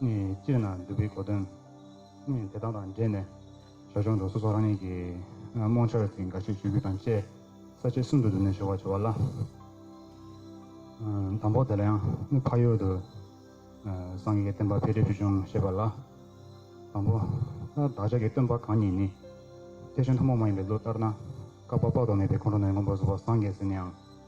ནི་སྤྱིར་ན་འདུལ་བའི་གོ་དོན། ནི་དེ་དག་དང་འབྲེལ་ནས། ཞར་བྱུང་འགྲོ་སོ་སོགས་རང་ཉིད་ཀྱི། རྨོངས་འཆར་ཅི་འགའ་ཤས་ཆོས་བརྒྱུད་དང་བཅས། ས་བཅད་གསུམ་དུ་བསྡུས་ནས་ཞུ་བར་བྱ་བ་ལ། དང་པོ་དེ་ལ་ཡང་ནི་འཕགས་ཡུལ་དུ། སངས་རྒྱས་བསྟན་པ་འཕེལ་འགྲིབ་ཆོས་འབྱུང་བཤད་པ་ལ། དང་པོ། བདག་ཅག་གི་སྟོན་པ་གང་ཉིད་ནི། ཐེག་ཆེན་ཐུན་མོང་མ་ཡིན་པའི་ལུགས་ལྟར་ན། བསྐལ་པ་དཔག་ཏུ་མེད་པའི་ཁོང་ཁྲོ་ནས་མངོན་པར་བཟོ་བ་སངས་རྒྱས་ཟིན་ནའང།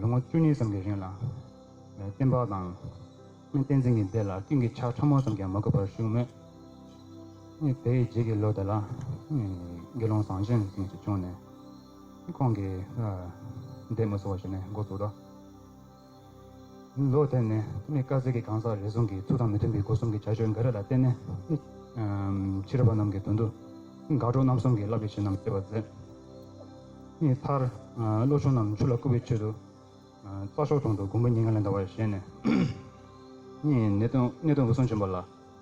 ལོ་ངོ་བཅུ་གཉིས་ཙམ་གྱི་རིང་ལ། སྟེང་ཕག་དང། སྨན་བསྟན་འཛིན་གྱི་སྡེ་ལ་སྤྲིན་གྱི་ཆར་ཕྲ་མོ་ཙམ་ཀྱང་མ་གོ་བར་བཞུགས་མོད། དེའི་རྗེས་ཀྱི་ལོ་དེ་ལ། དགེ་སློང་ཟངས་ཆེན་ཞིག་བྱུང་ནས། ཁོང་གིས། འདས་མ་སོང་བ་ཞིག་ནས་འགོ་བཙུགས་ཏོ། ལོ་དེར་ནི་མི་དཀར་ཟས་ཀྱི་གང་ཟག་རེ་ཟུང་གིས་ཚུལ་དང་མི་མཐུན་པའི་སྒོ་གསུམ་གྱི་བྱ་སྤྱོད་འགའ་རེ་ལ་བརྟེན་ནས། ཕྱི་རོལ་པ་རྣམས་ཀྱི་དོན་དུ། དགའ་གྲོགས་རྣམ་གསུམ་གྱིས་བསླབ་བྱ་བྱིན་རྣམས་སྤྱོད་པར་མཛད། མཐར། བློ་ཆུང་རྣམས་ཆུ་ལ་བསྐུར་བའི་ཆེད་དུ། རྩྭ་ཤོག་དྲུང་དུ་དགུན་པ་ཉི་ལྔ་ལན་གདའ་བར་བཞེངས་ནས། ནད་གདོན་འབུ་སྲུང་བྱིན་པ་ལ།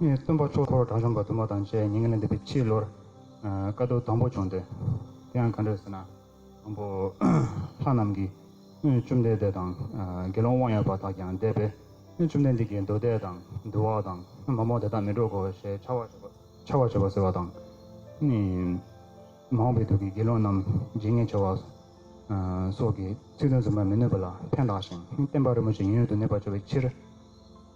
ངའི་སྟོན་པ་ཆོས་འཁོར་བྲག་གཞོང་པ་དུ་མ་དང་བཅས་ཉིན་གླེང་འདེབས་པའི་ཕྱི་ལོར། བཀའ་བསྡུར་དང་པོ་བྱུང་སྟེ། དེ་ཡང་གང་འདྲ་ཟེར་ན། དང་པོ། ལྷ་རྣམས་ཀྱིས། སྔོན་བཅོམ་ལྡན་འདས་དང། དགེ་སློང་དབང་ཡོད་པ་དག་ཀྱང་བསྡད་པས། སྔོན་བཅོམ་ལྡན་འདས་ཀྱིས་མདོ་སྡེ་དང། འདུལ་བ་དང། མ་མོ་དེ་དག་མི་སྒྲོག་གོ་ཞེས་འཕྱ་བར་བྱེད། འཕྱ་བར་བྱེད་པ་ཟེར་བ་དང། མ་འོངས་པའི་དུས་ཀྱི་དགེ་སློང་རྣམས་བརྗེད་ངས་བྱ་བ། སོགས་ཀྱི་ཚིག་དོན་རྫུན་པར་མི་གནོད་པ་ལ་ཕན་གདགས་ཤིང་བསྟན་པ་རིན་པོ་ཆེ་ཡིན་ཡོད་དུ་གནས་པར་བྱ་བའི་ཕྱིར།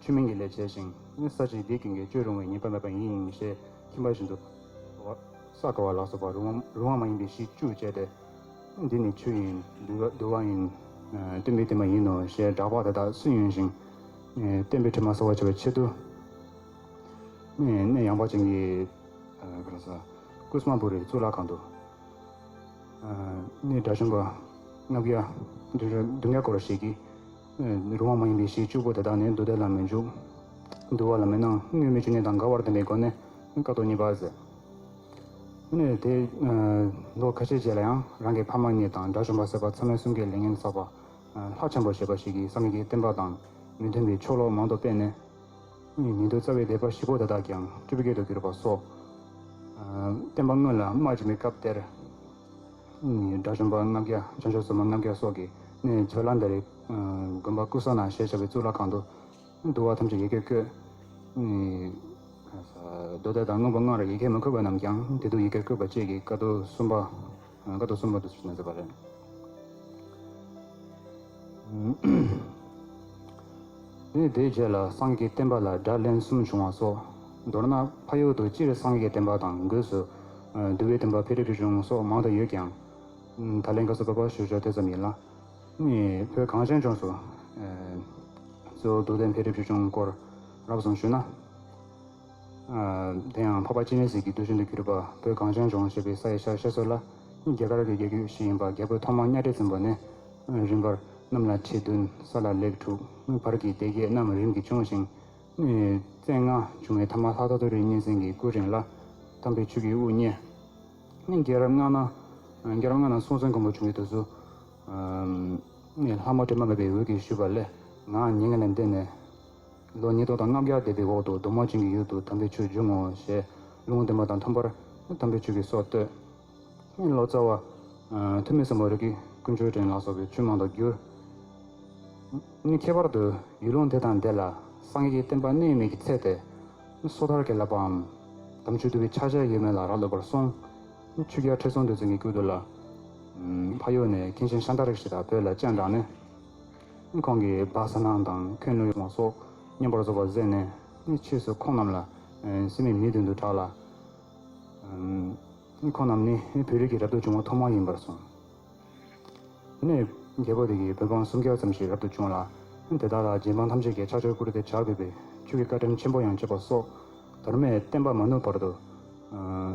ཆོས་མིན་གྱི་ལས་བྱས་ཤིང། ས་གཅིག་སྡིག་གིས་འགལ་སྤྱོད་རུང་བའི་ཉེས་པ་མེད་པ་ཡིན་ཡིན་ཞེས་ཁྱིམ་པ་བཞིན་དུ། ས་ག་བ་ལ་སོགས་པ་རུང་བ་མ་ཡིན་པའི་གཞི་བཅུ་སྤྱད་དེ། འདི་ནི་ཆུ་ཡིན། དུ་བ་ཡིན། སྟོན་པའི་དྲི་མ་ཡིན་ནོ་ཞེས་བསྒྲགས་པ་དེ་དག་སུན་དབྱུང་ཞིང། སྟོན་པའི་དྲི་མ་གསོ་བར་བྱ་བའི་ཆེད་དུ། གནས་ཡངས་པ་ཅན་གྱི། ཀུ་སྨ་པུ་རའི་གཙུག་ལག་ཁང་དུ། གནས་དགྲ་བྱོན་པ། ལྔ་བརྒྱ། བདུན་བརྒྱ་སྐོར་ཞིག་གིས། རུང་བ་མ་ཡིན་པའི་གཞི་བཅུ་པོ་དེ་དག་ནི་འདུ་བདེ་ལ་མི་འཇུག། འདུ་བ་ལ་མི་སྣང་སྙོན་མི་འཇུག་གནས་དང་འགལ་བར་ལྡན་པའི་སྒོ་ནས་བཀག་རྡོ་གཉིས་པར་ཟད། དེ་ནས་དེས་ལོ་ཁ་ཤས་རྗེས་ལ་ཡང་རང་གི་ཕ་མ་གཉིས་དང་དགྲ་བཅོམ་པ་སེར་པ་ཚང་མའི་གསུང་གི་ལས་ངན་བསགས་པ། ལྷ་ཆེན་པོ་ཞེས་པ་ཞིག་གིས་སངས་རྒྱས་ཀྱི་བསྟན་པ་དང་མི་མཐུན་པའི་ཆོ་ལོ་མང་དུ་སྤེལ་ནས། ཉེ་དུ་རྩ་བའི་སྡེ་པ་བཞི་པོ་དེ་དག་ཀྱང་སྤྲུལ་སྐུ་རྒྱལ་དུ་གྱུར་པ་སོགས། བསྟན་པ་དངོས་ལ་རྨ་བྱིན་པའི་སྐབས་དེར། ནི་དགྲ་བཅོམ་པ་ལྔ་བརྒྱ་བྱང་ཆུབ་སེམས་དཔའ་ལྔ་བརྒྱ་སོགས་ཀྱིས་ནི་མཆོད་ལ་འདི་རེ། དགོན་པ་ཀུ་ས་ན་ཞེས་བྱ་བའི་གཙུག་ལག་ཁང་དུ། འདུལ་བ་ཐམས་ཅད་ཡི་གེར་འཁོད། རྡོ་བརྡལ་དང་མངོན་པ་ལྔ་རུ་ཡི་གེར་མི་འཁོད་པ་རྣམས་ཀྱང་དེ་དུས་ཡི་གེར་བཀོད་པ་བཅས་ཀྱི་བཀའ་བསྡུ་གསུམ་པ། བཀའ་བསྡུ་གསུམ་པ་དུ་བྱས་ནས་མཛད་པ་རེད། དེའི་རྗེས་ལ་སངས་རྒྱས་བསྟན་པ་ལ་སྒྲ་ལན་གསུམ་བྱུང་བ་སོགས་མདོར་ན་ཕ་ཡུལ་དུ་སྤྱིར་སངས་རྒྱས་བསྟན་པ་དང་སྒོས་སུ་འདུལ་བའི་བསྟན་པ་འཕེལ་རིགས་བྱུང་སོགས་མང་དུ་ཡོད་ཀྱང། ད་ལན་དགའ་བསུ་འབབ་པ་ཞུ་ཕྱོགས་དེ་ཙམ་ཡིན་ལ། བོད་གངས་ཅན་ལྗོངས་སུ་གཙོ་བོ་སྡུག་ལྡན་འཕེལ་རིམ་བྱུང་སྐོར་རགས་ཙམ་ཞུས་ན། དེ་ཡང་འཕགས་པ་སྤྱན་རས་གཟིགས་ཀྱི་གདུལ་བྱོན་དུ་གྱུར་པ་བོད་གངས་ཅན་ལྗོངས་ཞེས་པའི་ས་ཡི་ཤར་ཤེས་སོགས་ལ་རྒྱ་གར་གྱི་རྒྱལ་རྒྱུད་ཞིག་ཡིན་པ་རྒྱལ་པོའི་ཐོག་མ་གཉའ་ཁྲི་བཙུན་པ་ནས་རིམ་པར་གནམ་ལ་ཁྲི་བདུན་ས་ལ་ལེགས་དྲུག་བར་གྱི་སྡེ་བརྒྱད་རྣམས་རིམ་གྱིས་བྱུང་ཞིང། བཙན་ལྔ་བྱུང་བའི་ཐ་མ་ལྷ་ཐོ་ཐོ་རི་གཉན་སེང་གི་སྐུ་རིང་ལ་དམ་པའི་ཆོས་ཀྱི་དབུ་བརྙེས། རྒྱལ་རབས་ལྔ་ན་སྲོང་བཙན་སྒམ་པོ་བྱུང་བའི་དུས་སུ། ལྷ་མོ་དྲི་མ་མེད་པའི་འོད་ཀྱིས་ཞུས་པ་ལས་ངའང་ཉེ་ངན་ལས་འདས་ནས། ལོ་ཉིས་སྟོང་དང་ལྔ་བརྒྱ་འདས་པའི་འོག་ཏུ་གདོང་མ་བྱིང་གི་ཡུལ་དུ་དམ་པའི་ཆོས་འབྱུང་ངོ་ཞེས་ལུང་བསྟན་པ་དང་འཚམ་པར་དམ་པའི་ཆོས་ཀྱི་སྲོག་བསྟོད། ལོ་ཙཱ་བ། ཐུ་མི་གསུམ་པོ་རིགས་ཀྱི་ཀུན་སྤྱོད་ཕྲན་ལ་སོགས་པའི་ཆོས་མང་དུ་བསྒྱུར། ནི་ཁྱད་པར་དུ་ཡུལ་ལུང་དེ་དང་དེ་ལ་སངས་རྒྱས་བསྟན་པ་གནས་མེད་ཀྱི་ཚད་དེ། སོ་ཐར་གྱི་བསླབ་པའམ། དམ་ཆོས་བསྡུ་བའི་ཕྱག་བྱ་ཡོད་མེད་ལ་རག་ལས་པར་གསུངས། ཆོས་རྒྱལ་ཁྲི་སྲོང་ལྡེ་བཙན་གྱི་སྐུའི་དུས་ལ། ཕ་ཡུལ་ནས་མཁན་ཆེན་ཤཱནྟ་རིགས་བཞི་དང་བོད་ལ་སྤྱན་དྲངས་ནས། ཁོང་གིས་སྦག་ས་སྣང་དང་ཁོད་ནུར་མ་སོགས་སྙན་པར་བཟོ་བར་གཟས་ནས་ཕྱིས་སུ་ཁོང་རྣམས་ལ་སི་མི་མི་དོན་དུ་གྲགས་ལ། ཁོང་རྣམས་ནི་བོད་རིགས་ཀྱི་རབ་ཏུ་བྱུང་བ་ཐོག་མ་ཡིན་པར་གསུངས། དེ་ནས་རྒྱལ་པོ་དེ་གིས་བོད་འབངས་སུམ་བརྒྱ་ཙམ་ཞིག་རབ་ཏུ་བྱུང་ལ། དེ་དག་ལ་རྗེ་འབངས་ཐམས་ཅད་ཀྱིས་ཕྱག་མཆོད་བཀུར་སྟི་བྱ་དགོས་པའི་ཆོས་ཀྱི་བཀའ་དྲིན་ཆེན་པོ་ཡང་བཅས་པ་སོགས་དར་མས་བསྟན་པ་མ་ནུབ་བར་དུ།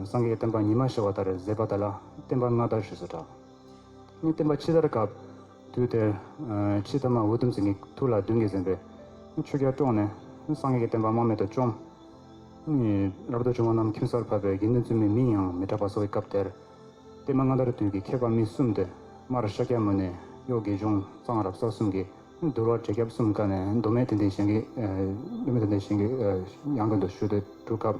སངས་རྒྱས་བསྟན་པ་ཉི་མ་ཤར་བ་ལྟར་མཛད་པ་དག་ལ་བསྟན་པ་སྔ་དར་ཞེས་སུ་གྲགས། བསྟན་པ་ཕྱི་དར་སྐབས། དུས་དེར། ཕྱི་ཐ་མ་འུ་དུམ་ཚེ་ནི་ཐུགས་ལ་གདུང་གིས་ཟིན་པས། ཆུ་སྐྱར་དཀྲོངས་ནས། སངས་རྒྱས་ཀྱི་བསྟན་པ་རྨ་མེད་དུ་བཅོམ། རབ་ཏུ་བྱུང་བ་རྣམས་ཁྱིམ་སར་ཕབ་པས་དགེ་འདུན་བཙུན་མོའི་མིང་ཡང་མི་གྲགས་པ་སོགས་ཀྱི་སྐབས་དེར། བསྟན་པ་སྔ་དར་དུས་ཀྱི་མཁས་པ་མི་གསུམ་སྟེ། མར་ཤཱཀྱ་མུ་ནེ། གཡོག་དགེ་གཞུང་གཙང་རབ་གསར་གསུམ་གྱིས་བསྡུར་བ་དྲེགས་སྐྱབས་གསུམ་ཀ་ནས་མདོ་སྨད་དེ་འདི་གཞན་གྱི། མདོ་སྨད་དེ་འདི་གཞན་གྱི། ཡང་ཀུན་ཏུ་བཞུགས་ཏེ་བསྒྲུབ་སྐབས།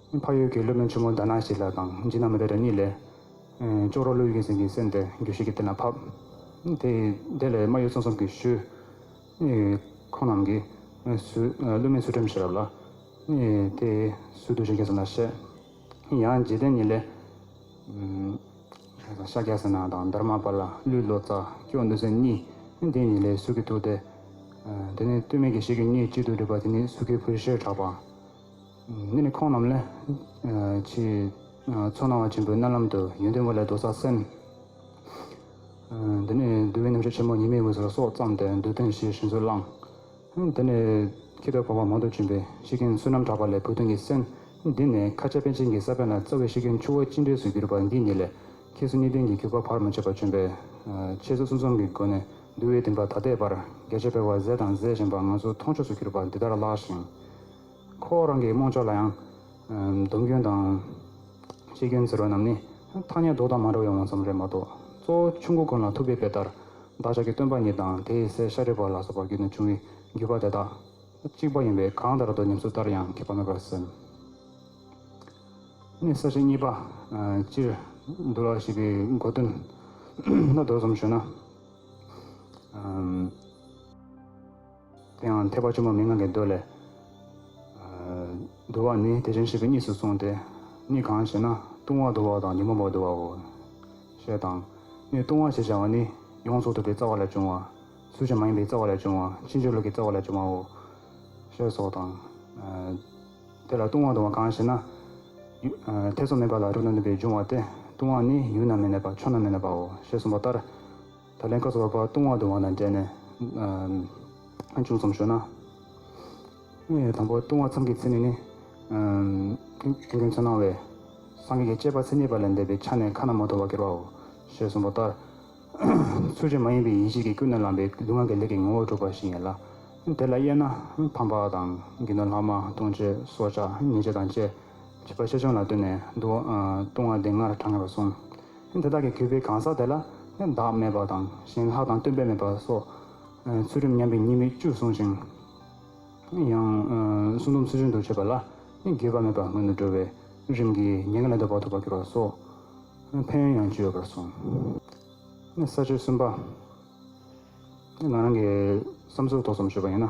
ཕ་ཡུལ་གྱི་སློབ་དཔོན་ཆེན་མོ་ཟླ་ནག་ཞིག་ལ་དང་འཇིགས་སྣང་མི་བདེ་རེ་གཉིས་ལས། ཅོག་རོ་ཀླུ་ཡི་གིང་སེང་གི་སེམས་དེ་རྒྱུ་ཞིག་གི་སྟེང་ལ་ཕབ། དེ་དེ་ལས་རྨ་ཡུལ་ཚང་གསུམ་གྱི་ཤུལ། ཁོང་རྣམས་ཀྱིས། སློབ་མའི་ཚུལ་ཁྲིམས་ཤེས་རབ་ལ། དེ་སུས་བསྡུས་བྱས་མཁས་ཙམ་ལ་བཤད། ཡང་འཇིག་རྟེན་གཉིས་ལས། ཤཱཀྱ་སེ་ན་དང་དར་མ་པ་ལ་ཀླུའི་ལོ་ཙཱ་སྐྱོང་འདུལ་སེམས་གཉིས། དེ་གཉིས་ལས་སུས་ཀྱིས་བསྡུས་ཏེ། དེ་ནི་སྟོད་སྨད་ཀྱི་ཤེས་ཀྱི་གཉིས་གཅིག་ཏུ་སྒྲིལ་པ་དེ་ནི་སུས་ཀྱིས་བུ་ཤེར་གྲགས་པ། འདི་ནི་ཁོང་རྣམས་ལས། ཆེས་ཚོར་སྣང་བ་ཆེན་པོའི་རྣ་ལམ་དུ་ཡོན་ཏན་དབུ་ལས་ལྡོག་ས་སེམས། འདི་ནི་བསྡུ་བའི་རྣམ་གཞག་ཆེན་མོ་ཉི་མའི་དབུས་སུ་སྲོག་བརྩམས་ཏེ་འདོད་དོན་ཞེས་བཞིན་སུ་བླང། འདི་ནི་ཁྱི་ལྟར་བོར་བ་མང་དུ་གྱོན་པའི་ཤི་གིན་བསོད་ནམས་གྲགས་པ་ལས་བུ་སྟོན་གྱི་སེམས། འདི་ནི་ཁ་ཆེ་པན་ཆེན་གྱི་ས་བོན་ལ་རྩ་བའི་ཤི་གིན་ཆུ་བོ་གཅིག་འདྲེས་སུ་གྱུར་པ་འདི་ཉིད་ལས། ཁྱེད་སུ་གཉིས་ལྡན་གྱི་གུས་པ་བར་མ་ཆད་པ་བྱོན་པས། ཁྱེད་སུ་གསུམ་གསུམ་གྱི་སྒོ་ནས་བསྡུ་བའི་བདེན་པ་ད་ལྟའི་བར་རྒྱ་ཆེ་བའི་བར་ཟས་དང་ཟས་གཞན་པ་ང་ཚོ་མཐོང་ཆོས་སུ་གྱུར་པ་འདི་ལྟར་བཀླགས་ཤིང། ཁོ་བོ་རང་གི་རྨོངས་ཕྱོགས་ལ་ཡང། སྡོམ་སྐྱོན་དང། ཤེས་སྐྱོན་ཟེར་བ་རྣམས་ནི། ཐ་སྙད་ལྡོག་དང་མ་འདྲ་བའི་འོས་འཚམས་རེད་མ་གཏོགས། གཙོ་བོ་ཆུ་མགོ་ཀུན་ལ་ཐུག་པའི་དཔེ་ལྟར། བདག་ཅག་གི་སྟོན་པ་ཉིད་དང་དེའི་སྲས་ཤཱ་རིའི་བར་ལ་སོགས་པར་བརྒྱུད་ནས་བྱུང་བའི་བརྒྱུད་པ་དེ་དག། གཅིག་པ་ཡིན་པས་གང་ལྟར་དུ་ཉམས་སུ་བསྟར་ཡང་ཁེགས་པ་མེད་པར་སེམས། ནས་གསལ་བྱེད་གཉིས་པ། སྤྱིར། འདུལ་བ་ཞེས་པའི་མགོ་དོན། ལ་ལྡོག་ཙམ་ཞུ་ན། དེ་ཡང་ཐེག་པ་བཅོ་ལྔ་མི་མངའ་གི་མདོ་ལས། དུ་བ་ནི་དེ་བཞིན་གཤེགས་པའི་གཉིས་སུ་གསུངས་ཏེ། གཉིས་གང་ཞེ་ན་ལྟུང་བ་དུ་བ་དང་ཉོན་མོངས་པ་དུ་བའོ། ཞེས་དང། ནི་ལྟུང་བ་ཞེས་བྱ་བ་ནི་ཡོངས་རྫོགས་ཐུབ་པའི་རྩ་བ་ལས་བྱུང་བ། སུ་ཅན་མ་ཡིན་པའི་རྩ་བ་ལས་བྱུང་བ་ཕྱིས་འབྱོར་ལུགས་ཀྱི་རྩ་བ་ལས་བྱུང་བའོ། ཞེས་སོགས་དང། དེ་ལ་ལྟུང་བ་དུ་བ་གང་ཞེ་ན། ཐེ་ཚོམ་མེད་པ་ལ་རོ་ན་ནུས་པའི་འབྱུང་བ་སྟེ་ལྟུང་བ་ནི་ཡུལ་ན་མི་གནས་པ་ཕྱོགས་ན་མི་གནས་པའོ་ཞེས་གསུངས་པ་ལྟར། ད་ལན་ཁ་ཚ་བ་བར་སྟོང་བར་དུ་བ་ན་འདྲེས་ནས། ཅུང་ཙམ་ཞོག་ན། དང་པོ་ལྟུང་བ་མཚམས་ཀྱི་ཚེ་ནི་ནི། ཁྱོད་ཀྱིས་འཚོ་སྣང་བས། སངས་རྒྱས་ཀྱི་སྤྱད་པ་ཚེ་ཉེས་པ་ལས་འདས་པའི་ཆ་ནས་ཁ་ན་མ་ཐོ་བ་སྐྱེར་བའོ། ཞེས་གསུངས་པ་ལྟར། ཚུལ་བྱུང་མ་ཡིན་པའི་ཡིད་བྱེད་ཀྱི་ཀུན་ནས་ལངས་པའི་ལུས་ངག་གི་ལས་ཀྱི་ངོ་བོ་གྲུབ་པ་ཞིག་ཡིན་ལ། དེ་ལ་དབྱེ་ན། ཕམ་པ་དང། དགེ་འདུན་ལྷག་མ་ལྟུང་བྱེད་སྲོག་ཆགས་ཉེས་བྱས་དང་བཅས། བྱིས་པ་ཆེ་ཆུང་ལ་ལྟོས་ནས་འདུག་ལྟུང་བ་དེ་སྔར་དྲངས་ཡོད་པར་སོང། ཐེངས་དེ་དག་གི་གུས་པའི་གང་ཟག་དེ་ལ་ནི་བདག་མེད་པ་དང་གཞན་ལྷག་དང་སྟོན་པས་མེད་པ་སོགས་ཚུལ་ཁྲིམས་ཉམས་པའི་ཉེས་དམིགས་བཅུ་བཟུང་ཞིང། ཡང་སྲུང་སྡོམ་ཚུལ་བཞིན་དུ་བྱེད་པ་ལ་ནི་འགལ་བ་མེད་པར་སྔོན་དུ་འགྲོ་བའི་རིམ་གྱིས་ཉེས་འགལ་ལས་ལྡོག་པ་ཐོབ་པར་འགྱུར་བ་སོགས་ཕན་ཡོན་ཡང་བཅུ་ཡོད་པར་སོང། ས་བཅུ་གསུམ་པ། ང་རང་གི་བསམ་ཚུལ་ཐོག་སོམས་ཞུ་བ་ཡིན་ན།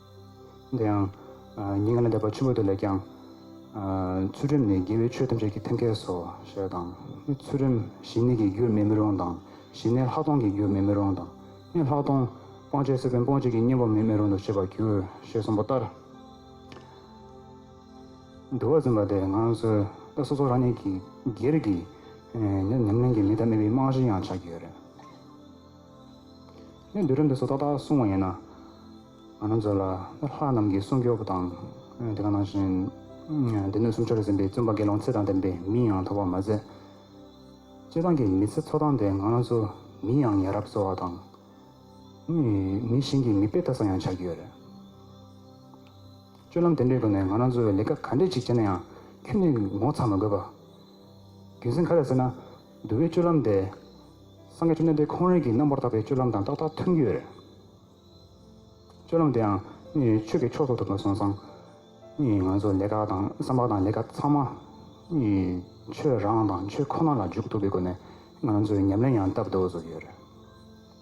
དེ་ཡང། ཉེ་གནས་དད་པ་ཆེན་པོ་དེ་ལས་ཀྱང། ཚུལ་ཁྲིམས་ནི་དགེ་བའི་ཆོས་ཐམས་ཅད་ཀྱི་མཐུན་སྐལ་སོ། ཞེས་དང། ཚུལ་ཁྲིམས་ཞི་གནས་ཀྱི་རྒྱུར་མེད་མི་རུང་དང། ཞི་གནས་ལྷག་མཐོང་གི་རྒྱུར་མེད་མི་རུང་དང། ལྷག་མཐོང། སྤང་བྱའི་སྲིད་པའི་སྤོང་བྱེད་ཀྱི་གཉེན་པོར་མེད་མི་རུང་དུ་བྱེད་པར་འགྱུར། ཞེས་གསུངས་པ་ལྟར། འདུལ་བ་འཛིན་པ་དེས་ང་སོའི་ལྟ་སོ་སོ་རང་ཉིད་ཀྱི་སྒེར་གྱི། ཉམས་ལེན་གྱི་མི་དང་མི་བའི་རྨང་གཞི་ཡང་ཆགས་ཀྱི་ཡོད་རེད། ནས་འདུལ་རབས་འདི་ཚོ་ཏག་ཏག་གསུང་བ་ཡིན་ན། ང་རང་ཚོ་ལ་ལྷ་རྣམས་ཀྱི་གསུང་སྐྱོབ་པ་དང། དེ་ག་ནང་བཞིན་སྡེ་སྣོད་སུམ་ཅུར་ཟིན་པའི་བཙུན་པ་དགེ་སློང་ཚེ་དང་ལྡན་པའི་མིང་ཡང་ཐོགས་པར་མ་ཟད། སྤྱིར་བཏང་གི་མི་ཚེ་འཚོ་སྟངས་དེ་ང་རང་ཚོ་མིའི་ཡང་ཡ་རབས་གསོ་བ་དང། མི་གཞན་གྱི་མི་དཔེ་ལྟ་ས་ཡང་ཆགས་ཀྱི་ཡོད་རེད། སྤྱོད་ལམ་དེ་འདྲའི་སྒོ་ནས་ང་རང་ཚོས་ལས་ཀ་ག་འདྲས་ཅིག་བྱས་ན་ཡང་ཁྱོད་ནི་ངོ་ཚ་མ་དགོས་པ། རྒྱུ་མཚན་ག་རེ་ཟེར་ན་འདུལ་བའི་སྤྱོད་ལམ་འདི། སངས་རྒྱས་བཅོམ་ལྡན་འདས་ཁོང་རང་གིས་རྣམ་པར་དག་པའི་སྤྱོད་ལམ་དང་ཏག་ཏག་མཐུན་གྱི། སྤྱོད་ལམ་དེའང་ནི་ཆོས་ཀྱི་མཆོག་ཏུ་གྲུབ་པར་གསུངས་སང། ནི་ང་ཚོ་ལས་ཀ་དང་བསམ་པ་དང་ལས་ཀ་ཚང་མ། ནི་ཆོས་རང་དང་ཆོས་ཁོ་ན་ལ་འཇུག་ཐུབ་པའི་སྒོ་ནས་ང་ཚོས་ཉམས་ལེན་ཡང་བཏབ་འདུག་བཟོ་རྒྱུ་རེད།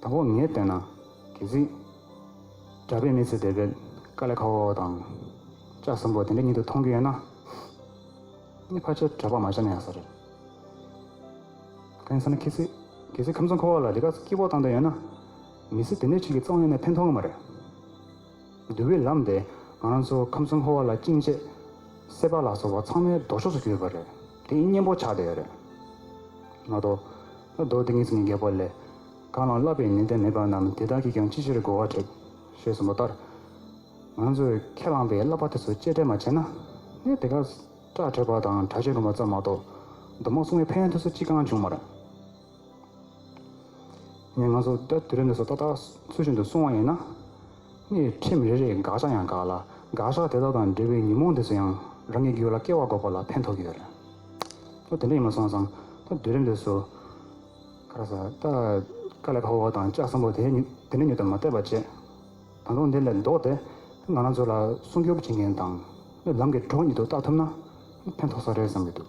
དང་པོ་ངས་བལྟས་ན། གལ་སྲིད། གྲྭ་པས་མི་ཚེ་འདས་པའི་དཀའ་ལས་ཁ་བོ་བོ་དང། ལྕགས་གསུམ་པོ་དེ་འདྲ་ཉིད་དུ་མཐོང་རྒྱུ་ཡོད་ན། ངའི་ཕ་ཆེར་གྲྭ་པ་མ་ཆགས་ན་ཡག་ས་རེད། གང་ཡིན་ཟེར་ན་གལ་སྲིད། གལ་སྲིད་ཁམས་གསུམ་ཁོ་བོ་ལ་འདི་ག་སྐྱིད་པོ་བཏང་འདོད་ཡོད་ན། མི་ཚེ་དེ་འདྲའི་ཆུ་གི་ཙོག་སྙེ་ནས་ཕན་ཐོགས་ཀྱི་མ་རེད། འདུལ་བའི་ལམ་དེ་ང་རང་ཚོ་ཁམས་གསུམ་ཧོར་བ་ལ་སྐྱིན་ཆེ། སེ་བ་ལགས་སོགས་བ་ཚང་མའི་ལྡོག་ཕྱོགས་སུ་གྱུར་ཡོད་པ་རེད། དེ་ཡིན་གཉེན་པོ་ཆགས་བསྡད་ཡོད་རེད། ང་ལྡོག། ང་ལྡོག་དེ་ངེད་ཚང་གི་རྒྱལ་པོ་ལས། གང་ལའང་བསླབ་པའི་ནན་ཏན་མེད་པ་རྣམས་དེ་དག་གིས་ཀྱང་ཅི་ཕྱིར་རྒོལ་བ་དྲེགས། ཞེས་གསུངས་པ་ལྟར། ང་ཚོས་ཁས་བླངས་པའི་བསླབ་པ་དེ་ཚོ་གཅེས་སྤྲས་མ་བྱས་ན། གནས་དེ་གར། སྐྲ་བྲེགས་པ་དང་དྲག་སྤྱོད་སྒོམ་པ་ཙམ་མ་གཏོགས། གདོད་མ་སྲུང་བའི་ཕན་ཡོན་ཐོས་བསོད་ཅི་གང་འབྱུང་མ་རེད། ངས་ང་ཚོ་ད་དུས་རབས་འདི་ཚོ་ཏག་ཏག་ཚུལ་བཞིན་དུ་སོང་བ་ཡིན་ན། སྣེ་ཁྲིམས་རེ་རེས་དགག་བྱ་ཡང་དགག་ལ་དགག་བྱ་དེ་དག་དང་འབྲེལ་བའི་ཉོན་མོངས་འདི་ཚོ་ཡང་རང་གི་རྒྱུད་ལ་སྐལ་བ་འགོག་པ་ལ་ཕན་ཐོགས་ཀྱི་ཡོད་རེད། ལོ་དེ་འདྲ་ཡིན་མ་སོང་ཙང་ད་དུས་རབས་འདི་ཚོ། ཁ་ར་ས་ད་དཀའ་ལས་ཕ་བོ་དང་ལྕགས་སམ་པོ་དེ་འདི་ནས་ཉོ་དང་མ་བལྟས་པ་བྱས། ད་དུང་དེ་ལས་ལྡོག་སྟེ་ང་རང་ཚོ་ལ་སྲུང་སྐྱོབ་བྱེད་མཁན་དང། ལམ་གྱི་གྲོགས་ཉིད་དུ་བཏགས་ཐུབ་ན་ཕན་ཐོགས་ས་རེད་བསམ་གྱི་འདུག།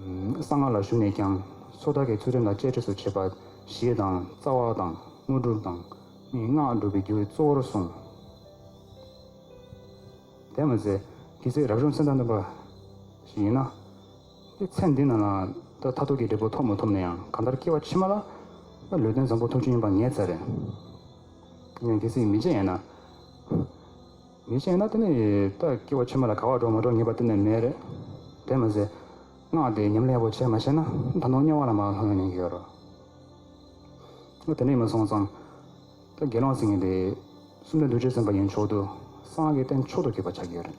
གསང་སྔགས་ལ་ཞུགས་ནས་ཀྱང། སོ་ཐར་གྱི་ཚུལ་ཁྲིམས་དང་བཅས་ཁྲིགས་སུ་བྱེད་པ། ཞེས་དང། རྩ་བ་དང། དངོས་གྲུབ་དང། སྔགས་སྒྲུབ་པའི་རྒྱུ་གཙོ་བོར་གསུངས། དེར་མ་ཟད། དེའི་ཚེ་རབ་བྱུང་ཚེ་མཐའ་འདོན་པ། ཞིག་ཡིན་ན། དེའི་ཚེ་འདི་ན་ལ། ད་ལྟ་ཐུགས་ཀྱི་འབྲས་བུ་ཐོབ་མ་ཐུབ་ན་ཡང་གང་ལྟར་སྐྱེ་བ་ཕྱི་མ་ལ། ལུས་རྟེན་བཟང་པོ་ཐུགས་རྗེ་ཡིན་པ་ངེས་ཚད་རེད། ཡིན་ན་དེ་ཚེ་མི་མཇེད་ཡན་ན། ཡིན་ཞེ་ན་དེ་ནི་རྟགས་སྐྱེ་བོ་ཕྱི་མ་ལ་ག་བར་འགྲོ་མ་འགྲོ་ངེས་པ་གཏན་ནས་མེད། དེར་མ་ཟད། སྔགས་འདིས་ཉམས་ལེགས་པོ་བྱས་མ་ཤེས་ན་ད་དུང་དམྱལ་བ་ལ་མ་ལྷུང་ཡང་ཡོད་རོ། ལོ་དེ་ནས་མ་སོང་ཙང། ད་དགེ་སློང་སེང་གེ་འདི། སུམ་སྟོན་བདུད་ཅུ་ཟིན་པ་ཡིན་མཆོག་ཏུ། སངས་རྒྱས་བསྟན་མཆོག་ཏུ་གྱུར་པར་ཆགས་ཀྱི་ཡོད་རེད།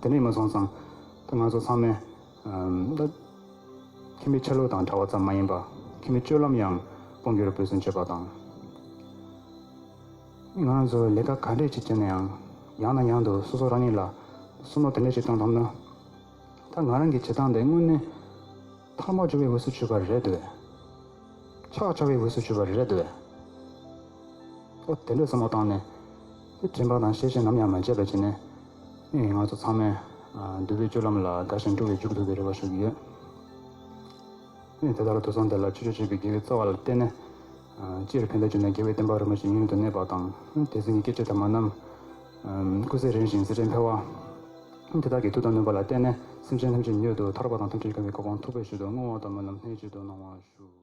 དེ་ནས་མ་སོང་ཙང་ད་ང་ཚོ་ཚང་མས་ད་ཁྱིམ་པའི་ཆ་ལུགས་དང་འདྲ་བ་ཙམ་མ་ཡིན་པར་ཁྱིམ་པའི་སྤྱོད་ལམ་ཡང་དཔུང་སྒྱུར་འབུད་བརྩོན་བྱེད་པ་དང། ང་རང་ཚོས་ལས་ཀ་ག་འདྲས་ཅིག་བྱས་ན་ཡང་ཡང་དང་ཡང་དུ་སོ་སོ་རང་ཉིད་ལ་སུན་སྣོག་དེ་འདྲས་ཅིག་གཏོང་ཐུབ་ན། ད་ང་རང་གི་བྱེད་སྟངས་དེ་དངོས་གནས་ཐག་མ་ཆོད་པའི་འོས་སུ་ཆུད་པ་རེད་འདོད། ཆགས་ཆགས་པའི་འོས་སུ་ཆུད་པ་རེད་འདོད། ཨོ་དེ་འདྲས་བསམ་བློ་བཏང་ནས། དྲན་པ་དང་ཤེས་བྱས་ནམ་ཡང་མ་བརྗེད་པ་བྱས་ནས། ང་ཚོ་ཚང་མས་འདུལ་བའི་སྤྱོད་ལམ་ལ་དགའ་ཞིང་སྤྲོ་བས་འཇུག་ཐུབ་པའི་རེ་བ་ཞུ་གི་ཡོད། དེ་ལྟར་དུད་ཚང་དེ་ལ་ཆོས་སྤྱོད་བྱེད་པའི་དགེ་བའི་རྩ་བ་ལ་བརྟེན་ནས། སྤྱིར་ཕན་བདེ་བྱུང་ན་དགེ་བའི་བསྟན་པ་རིན་པོ་ཆེ་ཡུན་དུ་གནས་པ་དང། དད་ཟིན་གྱི་སྐྱེ་མཆེད་དམ་མ་རྣམས། སྐུ་ཚེ་རིང་ཞིང་སྲིད་ཁྲེས་འཕེལ་བ། དེ་དག་གི་མཐུ་དང་ནུས་པ་ལ་བརྟེན་ནས་སེམས་ཅན་ཐམས་ཅད་མྱུར་དུ་ཐར་པ་དང་ཐུགས་རྗེ་ཆེ་བའི་གོ་འཕང་ཐོབ་པའི་ཕྱིར་དུ་བསྔོ་བ་ལྟ་བུ་རྣམས་སྣེ་གཅིག་ཏུ་གནང་བ་ཞུ།